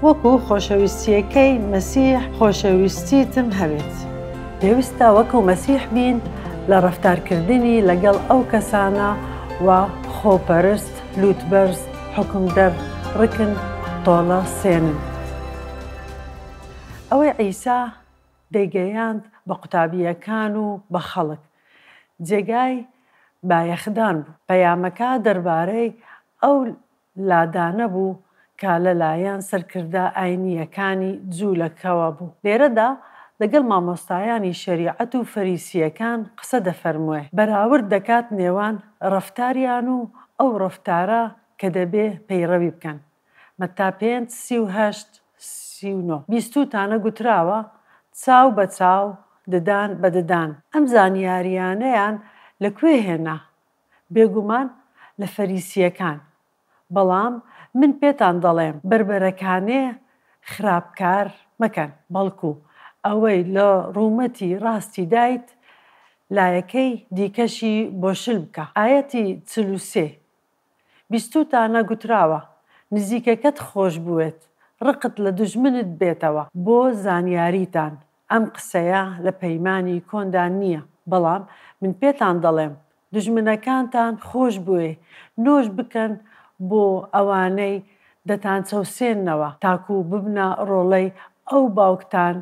وەکو خۆشەویستییەکەی مەسیح خۆشەویستیتم هەبێت. پێویستە وەکو مەسیح بین لە ڕەفتارکردنی لەگەڵ ئەو کەسانە و خۆپەرست، لووتبەرز، حوکمدەر، ڕکن، تۆڵە سێنن. ئەوەی عیسا دەیگەیاند بە قوتابییەکان و بە خەڵک، جێگای بایەخدان بوو. پەیامەکە دەربارەی ئەو لادانە بوو کە لە لایەن سەرکردە ئاینییەکانی جوولەکەوە بوو. لێرەدا لەگەڵ مامۆستایانی شەریعەت و فەریسییەکان قسە دەفەرموێ، بەراورد دەکات نێوان ڕەفتاریان و ئەو ڕەفتارە کە دەبێ پەیڕەوی بکەن، مەتا پێنج، سی و هەشت، سی و نۆ. بیستووتانە گوتراوە، چاو بە چاو، ددان بە ددان. ئەم زانیارییانەیان لە کوێ هێنا؟ بێگومان لە فەریسییەکان، بەڵام من پێتان دەڵێم، بەربەرەکانێ خراپ کار مەکەن، بەڵکو ئەوەی لە ڕوومەتی ڕاستی دایت، لایەکەی دیکەشی بۆ شل بکە. ئایەتی چل و سێ، بیستووتانە گوتراوە، نزیکەکەت خۆش بوێت، ڕقت لە دوژمنت بێتەوە، بۆ زانیاریتان، ئەم قسەیە لە پەیمانی کۆندا نییە، بەڵام من پێتان دەڵێم، دوژمنەکانتان خۆش بوێ نۆش بکەن بۆ ئەوانەی دەتانچەوسێننەوە، تاکو ببنە ڕۆڵەی ئەو باوکتان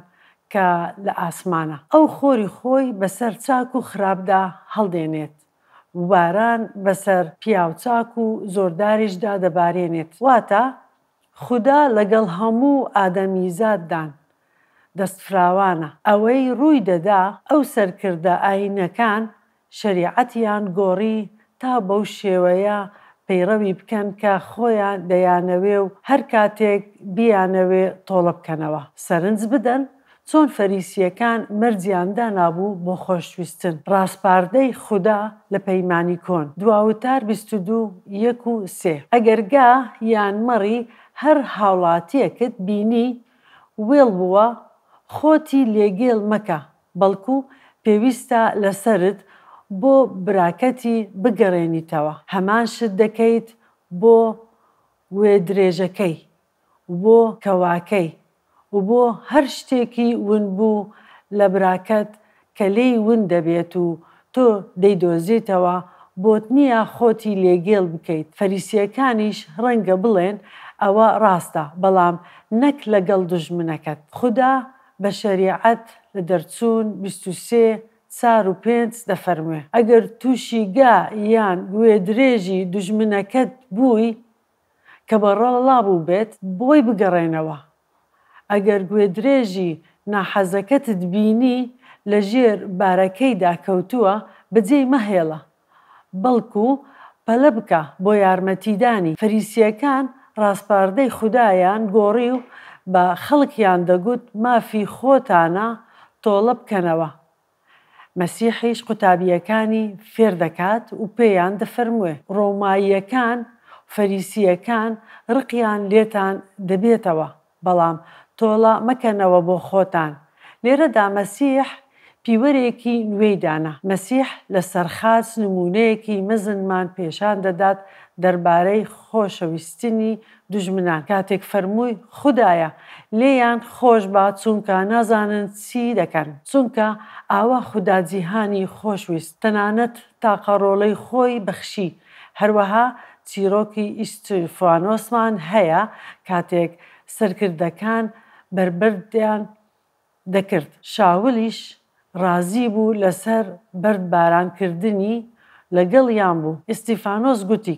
کە لە ئاسمانە. ئەو خۆری خۆی بەسەر چاک و خراپدا هەڵدێنێت و باران بەسەر پیاو چاک و زۆرداریشدا دەبارێنێت، واتە خودا لەگەڵ هەموو ئادەمیزاددان دەستفراوانە. ئەوەی ڕووی دەدا ئەو سەرکردە ئایینەکان شەریعەتیان گۆڕی تا بەو شێوەیە پەیڕەوی بکەن کە خۆیان دەیانەوێ و هەر کاتێک بیانەوێ تۆڵە بکەنەوە سەرنج بدەن، چۆن فەریسییەکان مەرجیان دانابوو بۆ خۆشویستن، ڕاسپاردەی خودا لە پەیمانی کۆن، دواوتار بیست و دوو، یەک و سێ. ئەگەر گا یان مەڕی هەر هاوڵاتییەکت بینی وێڵ بووە، خۆتی لێ گێل مەکە، بەڵکو پێویستە لە سەرت بۆ براکەتی بگەڕێنیتەوە، هەمان شت دەکەیت بۆ گوێدرێژەکەی، و بۆ کەواکەی و بۆ هەر شتێکی ونبوو لە براکەت کە لێی ون دەبێت و تۆ دەیدۆزیتەوە، بۆت نییە خۆتی لێ گێل بکەیت، فەریسییەکانیش ڕەنگە بڵێن ئەوە ڕاستە، بەڵام نەک لەگەڵ دوژمنەکەت. خودا بە شەریعەت لە دەرچوون بیست و سێ، چار و پێنج دەفەرموێ، ئەگەر تووشی گا یان گوێدرێژی دوژمنەکەت بووی، کە بەڕەڵا بووبێت بۆی بگەڕێنەوە، ئەگەر گوێدرێژی ناحەزەکەتت بینی لە ژێر بارەکەیدا کەوتووە بەجێی مەهێڵە، بەڵکو پەلە بکە بۆ یارمەتیدانی، فەریسییەکان ڕاسپاردەی خودایان گۆڕی و بە خەڵکیان دەگوت مافی خۆتانە تۆڵە بکەنەوە، مەسیحیش قوتابییەکانی فێر دەکات و پێیان دەفەرموێ، ڕۆماییەکان و فەریسییەکان ڕقیان لێتان دەبێتەوە، بەڵام تۆڵە مەکەنەوە بۆ خۆتان. لێرەدا مەسیح پیوەرێکی نوێی دانا. مەسیح لە سەر خاچ نموونەیەکی مەزنمان پێشان دەدات دەربارەی خۆشەویستنی دوژمنان کاتێک فەرمووی خودایە لێیان خۆش با چونکە نازانن چی دەکەن چونکە ئاوا خودا جیهانی خۆش ویست تەنانەت تاقە ڕۆڵەی خۆی بەخشی هەروەها چیڕۆکی ئیستیفانۆسمان هەیە کاتێک سەرکردەکان بەربەردیان دەکرد شاولیش ڕازی بوو لەسەر بەرد باران کردنی لەگەڵیان بوو ئیستیفانۆس گوتی.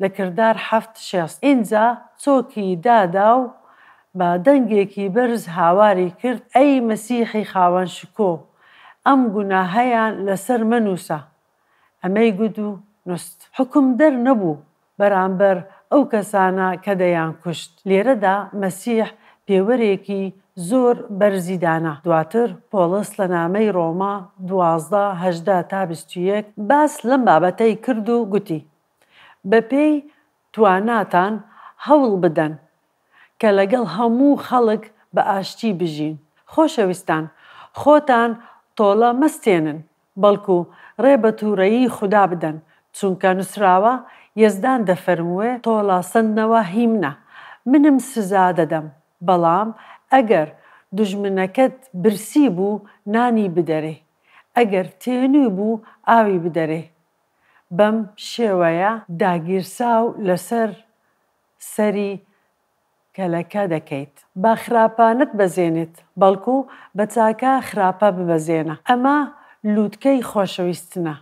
لە کردار حەفت شێست ئینجا چۆکی دادا و بە دەنگێکی بەرز هاواری کرد، ئەی مەسیحی خاوەن شکۆ، ئەم گوناهەیان لەسەر مەنووسە! ئەمەی گوت و نووست. حوکمدەر نەبوو بەرامبەر ئەو کەسانە کە دەیانکوشت. لێرەدا مەسیح پێوەرێکی زۆر بەرزی دانا. دواتر پۆڵس لە نامەی ڕۆما دوازدە، هەژدە تا بیست و یەک باس لەم بابەتەی کرد و گوتی، بەپێی تواناتان هەوڵ بدەن کە لەگەڵ هەموو خەڵک بە ئاشتی بژین. خۆشەویستان، خۆتان تۆڵە مەستێنن، بەڵکو ڕێ بە تووڕەیی خودا بدەن، چونکە نووسراوە، یەزدان دەفەرمووێ، تۆڵە سەندنەوە هی منە، منم سزا دەدەم، بەڵام ئەگەر دوژمنەکەت برسی بوو، نانی بدەرێ، ئەگەر تێنووی بوو، ئاوی بدەرێ. بەم شێوەیە داگیرساو لەسەر سەری کەلەکە دەکەیت با خراپە نەتبەزێنێت بەڵکو بە چاکە خراپە ببەزێنە ئەمە لوتکەی خۆشەویستنە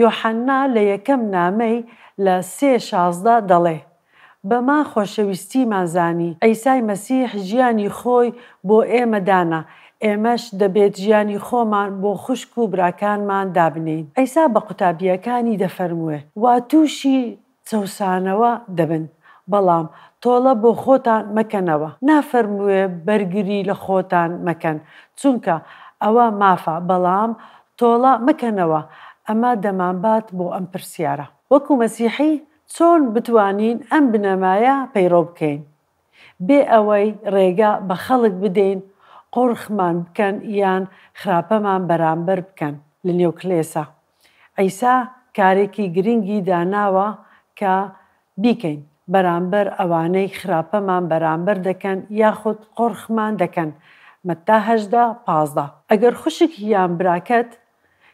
یۆحەنا لە یەکەم نامەی لە سێ شازدە دەڵێ بەما خۆشەویستیمان زانی. عیسای مەسیح ژیانی خۆی بۆ ئێمە دانا، ئێمەش دەبێت ژیانی خۆمان بۆ خوشک و براکانمان دابنێین. عیسا بە قوتابییەکانی دەفەرمووێ، وا تووشی چەوسانەوە دەبن، بەڵام تۆڵە بۆ خۆتان مەکەنەوە. نافەرمووێ بەرگری لە خۆتان مەکەن، چونکە ئەوە مافە، بەڵام تۆڵە مەکەنەوە. ئەمە دەمانبات بۆ ئەم پرسیارە. وەکو مەسیحی، چۆن بتوانین ئەم بنەمایە پەیڕەو بکەین بێ ئەوەی ڕێگە بە خەڵک بدەین قۆرخمان بکەن یان خراپەمان بەرامبەر بکەن لە نێو کلێسا عیسا کارێکی گرنگی داناوە کە بیکەین بەرامبەر ئەوانەی خراپەمان بەرامبەر دەکەن یاخود قۆرخمان دەکەن مەتا هەژدە، پازدە. ئەگەر خوشک یان براکەت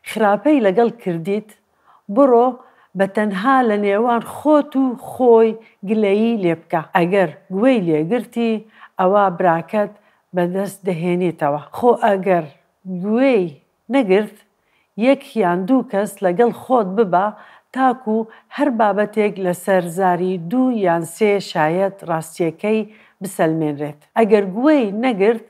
خراپەی لەگەڵ کردیت بڕۆ بە تەنها لە نێوان خۆت و خۆی گلەیی لێ بکە ئەگەر گوێی لێ گرتی ئەوا براکەت بە دەست دەهێنیتەوە خۆ ئەگەر گوێی نەگرت یەک یان دوو کەس لەگەڵ خۆت ببە تاکو هەر بابەتێک لەسەر زاری دوو یان سێ شایەت ڕاستیەکەی بسەلمێنرێت ئەگەر گوێی نەگرت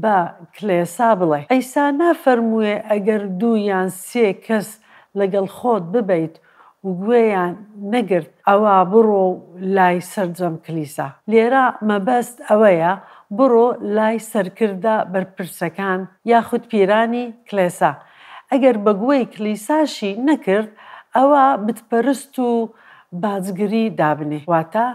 با کلێسا بڵێ عیسا نافەرمووێ ئەگەر دوو یان سێ کەس لەگەڵ خۆت ببەیت و گوێیان نەگرت ئەوا بڕۆ لای سەرجەم کلیسا. لێرە مەبەست ئەوەیە بڕۆ لای سەرکردە بەرپرسەکان یاخود پیرانی کلێسا. ئەگەر بە گوێی کلیساشی نەکرد ئەوا بتپەرست و باجگری دابنێ. واتە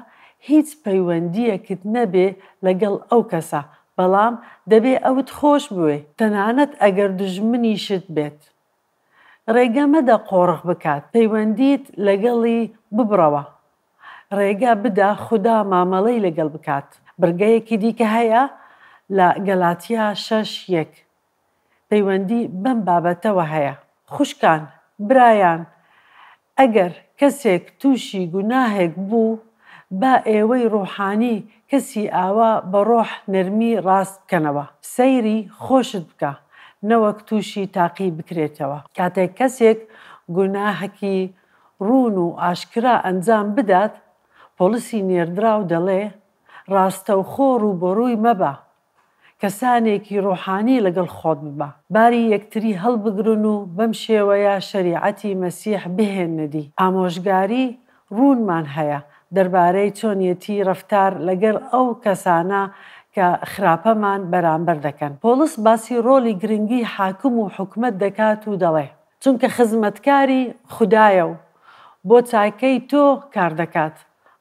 هیچ پەیوەندیەکت نەبێ لەگەڵ ئەو کەسە بەڵام دەبێ ئەوت خۆش بوێ تەنانەت ئەگەر دوژمنیشت بێت ڕێگە مەدە قۆڕخ بکات پەیوەندیت لەگەڵی ببڕەوە ڕێگە بدە خودا مامەڵەی لەگەڵ بکات بڕگەیەکی دیکە هەیە لە گەلاتیا شەش یەک پەیوەندی بەم بابەتەوە هەیە. خوشکان، برایان، ئەگەر کەسێک تووشی گوناهێک بوو، با ئێوەی ڕووحانی کەسی ئاوا بە ڕۆح نەرمی ڕاست بکەنەوە. سەیری خۆشت بکە، نەوەک تووشی تاقی بکرێتەوە. کاتێک کەسێک گوناهەکی ڕوون و ئاشکرا ئەنجام بدات، پۆڵسی نێردراو دەڵێ، ڕاستەوخۆ ڕووبەڕووی مەبە، کەسانێکی ڕۆحانی لەگەڵ خۆت ببە باری یەکتری هەڵبگرن و بەم شێوەیە شەریعەتی مەسیح بهێننە دی. ئامۆژگاری ڕوونمان هەیە دەربارەی چۆنیەتی ڕەفتار لەگەر ئەو کەسانە کە خراپەمان بەرامبەر دەکەن. پۆڵس باسی ڕۆڵی گرنگی حاکم و حکومەت دەکات و دەڵێ، چونکە خزمەتکاری خودایە و بۆ چاکەی تۆ کار دەکات.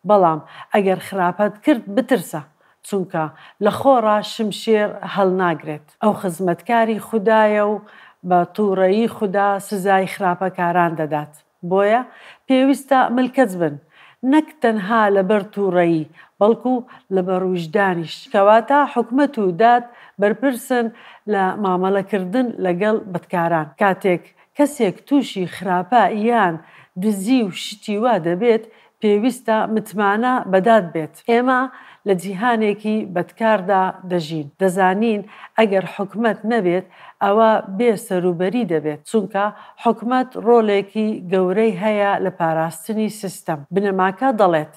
بەڵام ئەگەر خراپەت کرد بترسە چونکە لە خۆڕا شمشێر هەڵناگرێت ئەو خزمەتکاری خودایە و بە توڕەیی خودا سزای خراپەکاران دەدات بۆیە پێویستە ملکەچ بن نەک تەنها لەبەر توڕەیی بەڵکو لەبەر ویژدانیش کەواتە حکومەت و داد بەرپرسن لە مامەڵەکردن لەگەڵ بەدکاران کاتێک کەسێک تووشی خراپە یان دزی و شتی وا دەبێت پێویستە متمانە بە داد بێت. ئێمە لە جیهانێکی بەدکاردا دەژین، دەزانین ئەگەر حکومەت نەبێت ئەوا بێ سەروبەری دەبێت، چونکە حکومەت ڕۆڵێکی گەورەی هەیە لە پاراستنی سیستەم. بنەماکە دەڵێت.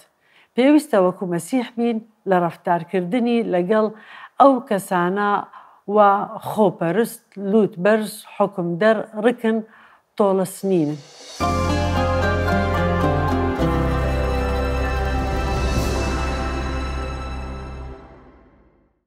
پێویستە وەکو مەسیح بین لە ڕەفتارکردنی لەگەڵ ئەو کەسانە وا خۆپەرست، لوت بەرز، حوکمدەر، ڕکن، تۆڵەسنینن.